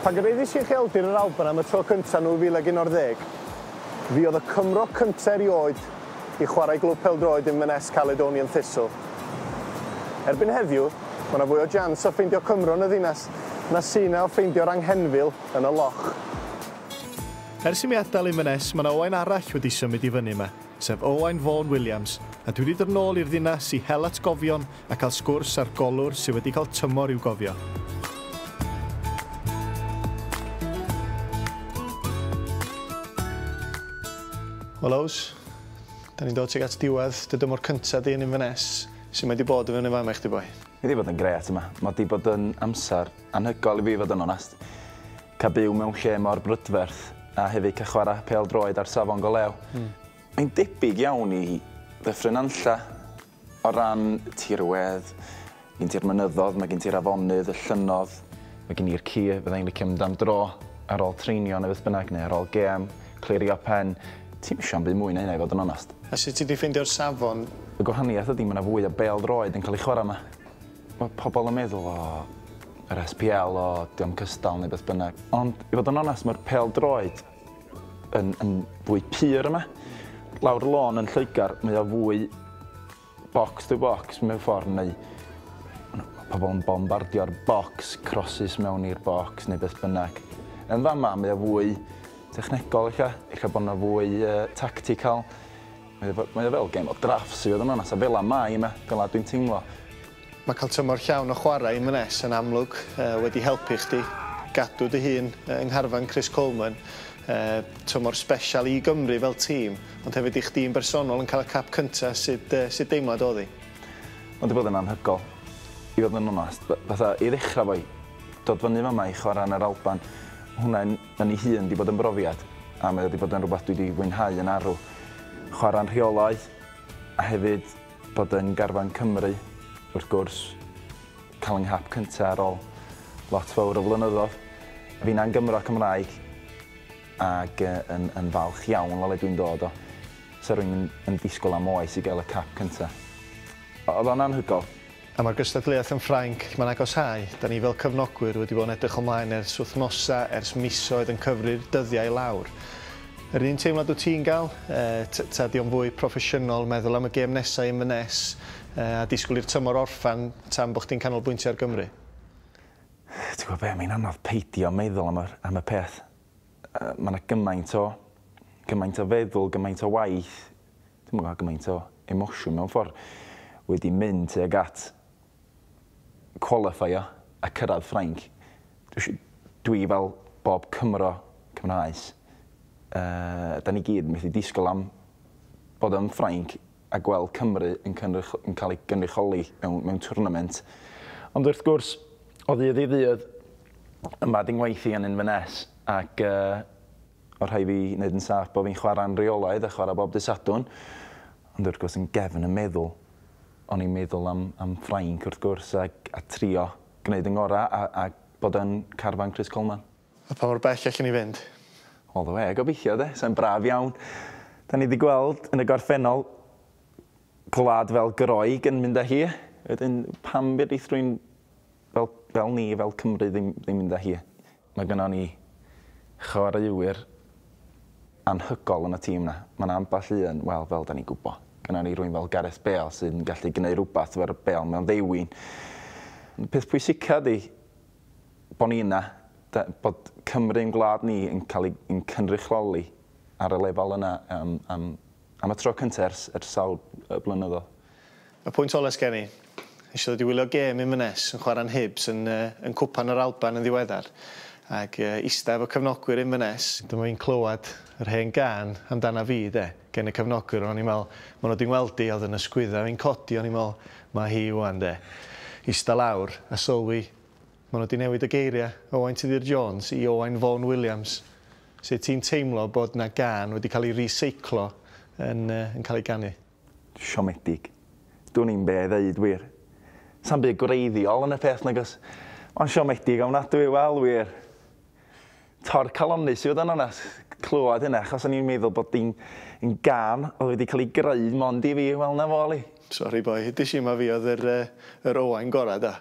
Pan gyraeddais i ucheldir yr Alban am y tro cyntaf yn 2011, fi oedd y Cymro cyntaf erioed i chwarae i glwb pêl-droed Inverness Caledonian Thistle. Erbyn heddiw, mae yna fwy o jans o ffeindio Cymro yn y ddinas na sy' yna o ffeindio'r anghenfil yn y loch. Ers i mi adael Inverness, mae yna Owain arall wedi symud i fyny yma. sef Owain Vaughan Williams, a dwi 'di dod nôl i'r ddinas i hel atgofion a cael sgwrs â'r golwr sy' wedi cael tymor i'w gofio. Wel Ows, 'da ni'n dod tuag at diwedd dy dymor cynta di yn Inverness, su' mae 'di bod i fyny yn fama i chdi boi? Mae 'di bod yn grêt yma, ma' 'di bod yn amser anhygoel i fi fod yn onest. Cael byw mewn lle mor brydferth a hefyd cael chwarae pêl-droed ar safon go lew. Mae'n debyg iawn i Ddyffryn Nantlle o ran tirwedd. Mae gen ti'r mynyddoedd, mae gen ti'r afonydd, y llynnoedd. Mae gen i'r ci, fydda i'n licio mynd am dro ar ôl treinio neu beth bynnag neu ar ôl gêm, clirio pen. Ti'm isio am byd mwy na hynna i fod yn onest. A sut ti 'di ffeindio'r safon? Y gwahaniaeth ydi mae 'na fwy o bêl-droed yn cael ei chwarae 'ma. Mae pobl yn meddwl, o, yr SPL, o, dio'm cystal neu beth bynnag. Ond i fod yn onest, mae'r pêl-droed yn, yn fwy pur yma. Lawr y lôn yn Lloegr, mae o fwy box to box mewn ffordd, neu pobl yn bombardio'r box, crosses mewn i'r box neu beth bynnag. Yn fama, mae o fwy technegol eich, eich bod yna fwy uh, tactical. Mae o, mae o fel game of drafts i fod yn onast, a fela mae e, fela dwi'n teimlo. Mae cael tymor llawn o chwarae yn Mnes yn amlwg wedi helpu chdi gadw dy hun yng ngharfan Chris Coleman. Tymor sbesial i Gymru fel tîm, ond hefyd i chdi'n bersonol yn cael y cap cynta, sut sut deimlad oedd 'i? Mae 'di bod yn anhygoel i fod yn onast. Fatha i ddechrau 'fo i dod fyny fama i chwarae yn yr Alban, hwnna yn Yn ei hun 'di bod yn brofiad, a mae o 'di bod yn rhywbeth dwi 'di fwynhau yn arw. Chwarae'n rheolaidd, a hefyd bod yn garfan Cymru, wrth gwrs, cael yng nghap cynta ar ol lot fawr o flynyddodd. Finna yn Gymro Cymraeg, ag yn yn falch iawn o le dwi'n dod o. Sa rwy'n yn disgwyl am oes i gael y cap cynta. Oedd o'n anhygoel. A mae'r gystadleuaeth yn Ffrainc, lle mae'n agosáu. Dan ni fel cyfnogwyr wedi bod yn edrych ymlaen ers wythnosau, ers misoedd yn cyfri'r dyddiau i lawr. Yr un teimlad wyt ti'n gael? Yy ta ydy o'n fwy proffesiynol meddwl am y gêm nesaf i Inverness yy a disgwyl i'r tymor orffen tan bod chdi'n canolbwyntio ar Gymru? Ti'n gwybod be, mae'n anodd peidio meddwl am y am y peth. Yy mae 'na gymaint o gymaint o feddwl, gymaint o waith Dwi'm yn cael gymaint o emosiwn mewn ffordd wedi mynd tuag at cwalifeio a cyrraedd Ffrainc. Dwi fel bob Cymro, Cymraes, yy 'dan ni gyd methu disgwyl am bod yn Ffrainc a gweld Cymru yn cynrych- yn cael ei gynrychioli mewn mewn twrnament. Ond wrth gwrs, o ddydd i ddydd, yma 'di 'ngwaith i yn Inverness ac yy o rhai fi neud yn saff bo fi'n chwara'n reolaidd a chwara bob dy Sadwrn ond wrth gwrs yn gefn y meddwl o'n i'n meddwl am am Ffrainc wrth gwrs a a trio gneud yn ngora a a bod yn carfan Chris Coleman. A pa mor bell allen ni fynd? All the way gobeithio de, sai'n braf iawn. Da ni di gweld yn y gorffennol gwlad fel Groeg yn mynd a hi wedyn pam fedrith rwy'n fel fel ni fel Cymru ddim ddim mynd a hi? Mae gynnon ni chwaraewyr anhygoel yn y tîm 'na. Mae 'na ambell un, wel, fel 'dan ni'n gwybod, gynnon ni rywun fel Gareth Bale sy'n gallu gneud rhywbeth efo'r bêl mewn ddewin. Y peth pwysica ydi bod ni yna, da- bod Cymru yn gwlad ni yn cael ei yn cynrychioli ar y lefel yna am am am y tro cynta ers ers sawl yy blynyddodd. Y pwynt ola sgen i. Nesh i ddod i wylio gêm Inverness yn chwara'n Hibs yn yy yn Cwpan yr Alban yn ddiweddar ag yy ista efo cefnogwyr Inverness, dyma fi'n clywad yr hen gân amdana fi 'de gen y cefnogwyr o'n i'n me'wl ma' nw 'di ngweld i a o'dd yn ysgwydda fi'n codi o'n i'n me'wl ma' hi ŵan 'de. Ista lawr a sylwi ma' nw 'di newid y geiria Owain Tudur Jones i Owain Vaughan Williams. Sut ti'n teimlo bod 'na gân wedi ca'l i reseiclo yn yy yn ca'l ei ganu? Siomedig. Dwn i'm be' i ddeud wir. Sa'm byd gwreiddiol yn y peth nagos? Ond siomedig ofnadwy, wel wir. Torcalonnus i fod yn onest, clywed hynna, achos o'n i'n meddwl bod hi'n yn gân oedd wedi cael ei greu mond i fi, wel 'na fo Lee. Sori boi, hit y shima fi oedd yr yy yr Owain gora da.